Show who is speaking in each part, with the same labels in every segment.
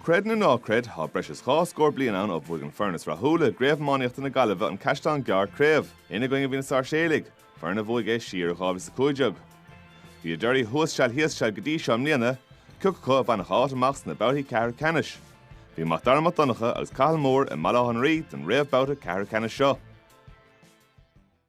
Speaker 1: Creid nó ná creid, tá breis is dhá scór bliain ann ó bhuaigh an foireann is rathúla i gCraobh Iománaíochta na Gaillimhe, An Caisleán Gearr, craobh. Ina gcoinne a bhí na Sáirséalaigh, foireann a bhuaigh é siar i 2015. Bhí a dtorthaí thuas seal thíos seal go dtí seo i mbliana, cé acu a bhainfeadh áit amach sna babhtaí ceathrú ceannais. Bhí Mac Dara Mac Donncha agus Cathal Moore i mBaile Átha an Rí don réamhbhabhta ceathrú ceannais seo.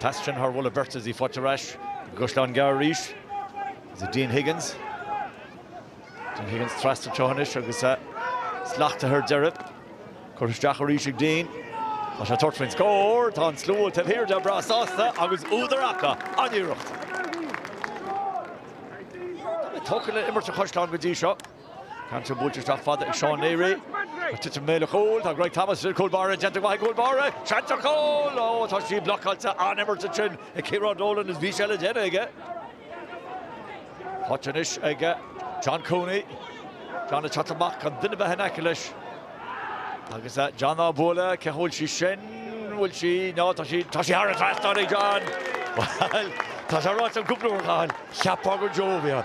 Speaker 1: Pas sin thar mhullach beirt is í faighte ar ais ag Caisleán Gearr arís. Is é Dean Higgins. Dean Higgins trasna teo anois agus sleachtaithe ar deireadh. Curtha isteach arís ag Dean. Tá sé ag tabhairt faoin scór. Tá an slua taobh thiar de breá sásta agus údar acu an-iarracht. Tá mé tógtha le imirt an Chaisleáin go dtí seo. Cainteoir buailte isteach fada ag Seán Neary. Ag titim i mbéal an chúil. Tá Greg Thomas idir cúl báire. Déanta go maith ag cúl báire. Seans ar chúl! Ó, tá sí blocáilte. An-imirt ansin ag Ciarán Dolan is bhí sé le déanamh aige. Faighte anois ag John Cooney. John ag teacht amach gan duine bheith in aice leis. Agus John á bualadh. Cén chaoi a bhfuil sí sin? Bhfuil sí? Ná, tá sí, tá sí thar an trasnán ag John! Bhuel, tá sé ráite againn cúpla uair, a Chathail. Cheapfá gur deoraí ann.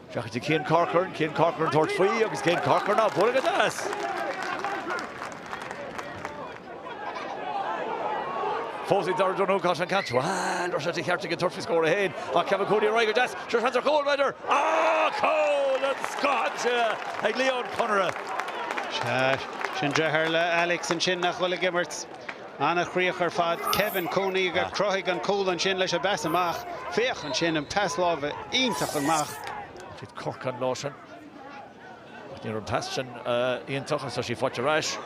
Speaker 1: Féachaint ag Cian Corcoran, Cian Corcoran ag tabhairt faoi agus Cian Corcoran á bhfuair agad as! Fós ag Darragh Donoghue an caint, bhuel, raibh sé de cheart ag an Tuirc a scór a haon ach Kevin Cooney a rá agad as, seo seans ar chúl, b'fhéidir, ah, cúl scóráilte ag Leon Connaire! Sea, sin deartháir Alex ansin nach bhfuil ag imirt. Ana-chríoch ar fad. Kevin Cooney a chruthaigh an cúl ansin leis an bpas amach. Féach ansin an pas láimhe iontach amach go dtí Corcoran ansin. Ach ní raibh an pas sin iontach agus tá sé faighte ar ais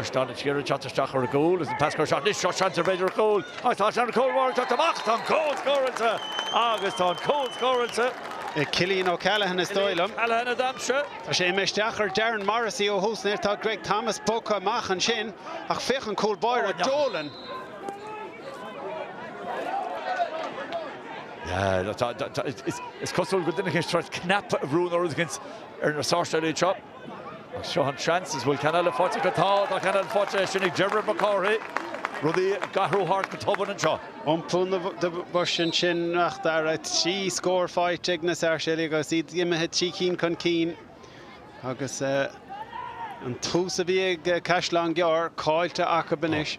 Speaker 1: ag Seán Neary ag teacht isteach ar an gcúl agus an pas curtha isteach anois. Seo seans ar b'fhéidir cúl. Ach tá an cúl báire ag teacht amach. Tá an cúl scóráilte agus tá an cúl scóráilte. Ag Cillian O'Callaghan is dóigh liom. Cillian O'Callaghan a d'aimsigh. Tá sé imithe isteach ar Darren Morrissey ó thús anois. Tá Greg Thomas bogtha amach ansin ach féach an cúl báire, Dolan. Is cosúil go deineadh sórt cnaipe a bhrú nó rud éigin ar na Sáirséalaigh anseo. Agus seo an seans, an bhfuil ceann eile faighte acu? Tá, tá ceann eile faighte, sin ag Dermot Mac Cárthaigh. Rudaí ag athrú thart go tobann anseo. Iompú na boise ansin, a Mhac Dara, trí scór faighte ag na Sáirséalaigh agus iad imithe trí cinn chun cinn. Agus an tús a bhí ag Caisleán Gearr caillte acu anois.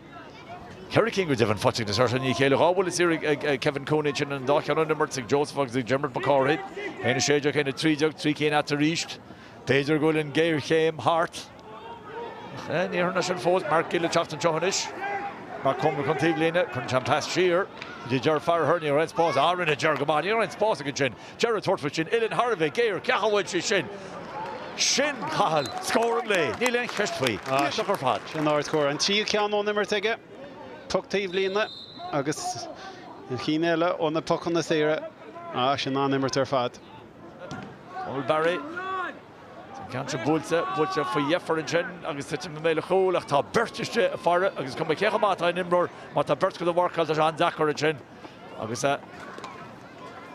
Speaker 1: Ceithre cinn go deimhin faighte ag na Sáirséalaigh i ndiaidh a chéile, dhá bhuille saor ag Kevin Cooney ansin is an dá cheann ón imirt, ag Joseph agus ag Dermot Mac Cárthaigh, 1 16, 1 13, trí cinn ann arís. B'fhéidir go bhfuil an ghéarchéim thart. Ní hionann sin fós, Mark Gill ag teacht anseo anois. Mark Comer chun taobh líne, cuireann sé an pas siar. do Ger Farragher, ní raibh aon spás, á rinne Ger go maith, ní raibh aon spás aige ansin. Ger ag tabhairt faoi sin, Oileáin Harvey, géar, cá bhfuil sí sin. Sin Cahill, scór an lae, níl aon cheist faoi, iontach ar fad. Sin ard-scór, an tríú ceann ón imirt aige, poc taobh líne agus na cinn eile ó na pocanna saora. Á, sin an-imirt ar fad. Paul Barry. Tá an ceann sin buailte, buailte faoi dheifir ansin agus titim i mbéal an chúil ach tá beirt istigh ag faire agus is cuma cé chomh maith atá aon imreoir, má tá beirt acu le mharcáil, tá sé an-deacair ansin agus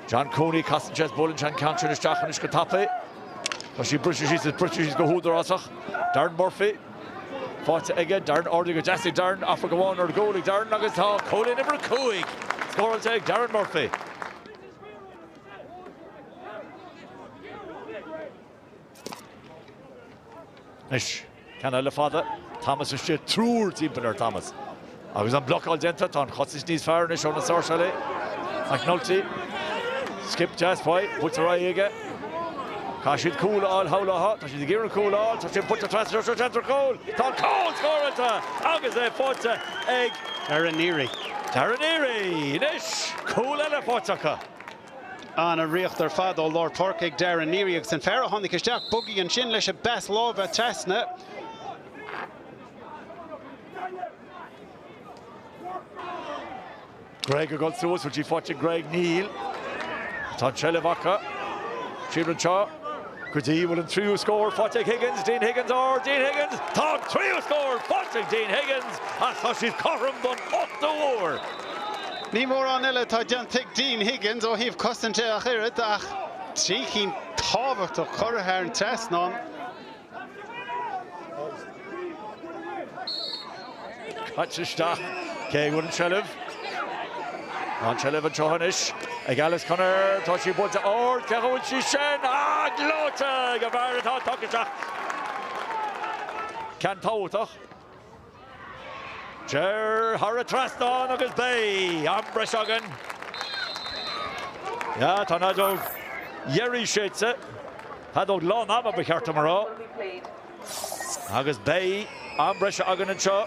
Speaker 1: John Cooney, casann sé is buaileann sé an ceann sin isteach anois go tapaidh. Tá sí briste síos is briste síos go húdarásach. Darren Murphy, faighte aige, Darren ordaigh go deas ag Darren, aithfear go amháin ar gcúl ag Darren agus tá cúilín uimhir 5 scóráilte ag Darren Murphy. Anois, ceann eile fada. Thomas istigh, triúr timpeall ar Thomas. Agus an blocáil déanta, tá an chosaint níos fearr anois ó na Sáirséalaigh. McNulty, skip deas faoi, buailte ar aghaidh aige. Tá siad cúl a fháil, tá, tá siad ag iarraidh cúl a fháil, tá sí buailte trasna sa cheantar cúil, tá cúl scóráilte agus é faighte ag Darren Neary. Darren Neary, anois cúl eile faighte acu. Ana-ruathar ar fad ó lár páirce ag Darren Neary agus an fear a tháinig isteach bogadh ansin leis an bpas láimhe trasna. Greg ag dul suas bhfuil sí faighte ag Greg? Níl. Tá an seilbh acu. Fir anseo. Go dtí go bhfuil an tríú scór faighte ag Higgins, Dean Higgins, á Dean Higgins! Tá an tríú scór faighte ag Dean Higgins is tá siad cothrom don ochtú huair. Ní mórán eile atá déanta ag Dean Higgins ó thaobh cosaint de ach oiread ach trí cinn tábhachtach curtha thar an trasnán. Caite isteach, cé aige a bhfuil an tseilbh, an tseilbh anseo anois ag Alex Conaire, tá sí buailte ard, cá bhfuil sí sin, ah, gleoite ag an bhfear atá tugtha isteach. Ceann tábhachtach. Téir thar an trasnán agus beidh am breise againn. Tá an fheadóg dheiridh séidte, feadóg lán ama ba cheart dom a rá, agus beidh am breise againn anseo.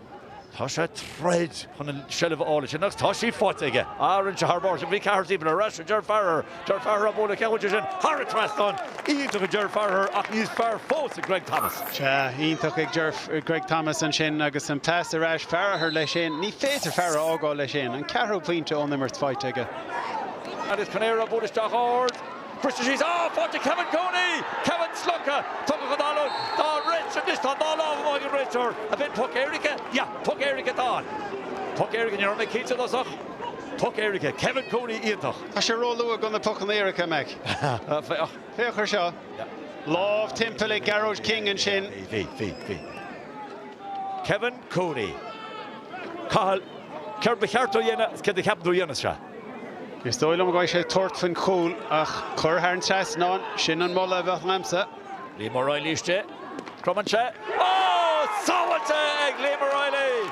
Speaker 1: Tá sé ag troid chun an seilbh a fháil ansin agus tá sí faighte aige. Ah, rinne sé thar barr ansin. Bhí ceathrar timpeall air. Arís, Ger Farragher. Ger Farragher á bualadh. Cá bhfuil sí sin? Thar an trasnán! Iontach ag Ger Farragher ach níos fearr fós ag Greg Thomas. Sea, iontach ag Ger, Greg Thomas ansin agus an pas ar ais. Farragher leis féin. Ní féidir Farragher a fhágáil leis féin. An ceathrú pointe ón imirt faighte aige. Alex Conaire á bualadh isteach ard. Bristear síos, Á, fáilte, Kevin Cooney! Kevin, slogtha, Tugadh an fhallaing dá rith anois, tá an dá lámh amuigh ag an réiteoir. An bhfuil, poc éirice? Ya, poc éirice atá ann. Poc éirice, ní raibh mé cinnte i dtosach. Poc éirice, Kevin Cooney iontach. Tá sé róluath do na pocanna éirice, a mhic. Féach. Féach ar seo. Lámh timpeall ag Gearóid King ansin. Bhí, bhí, bhí. Kevin Cooney. Cathal, céard ba cheart dó a dhéanamh agus céard a cheapann tú a dhéanfas sé? Is dóigh liom go mbeidh sé ag tabhairt faoin chúl ach cur thar an trasnán, sin an moladh a bheadh agamsa. Liam Ó Raghallaigh istigh, cromann sé, á, sábháilte ag Liam Ó Raghallaigh!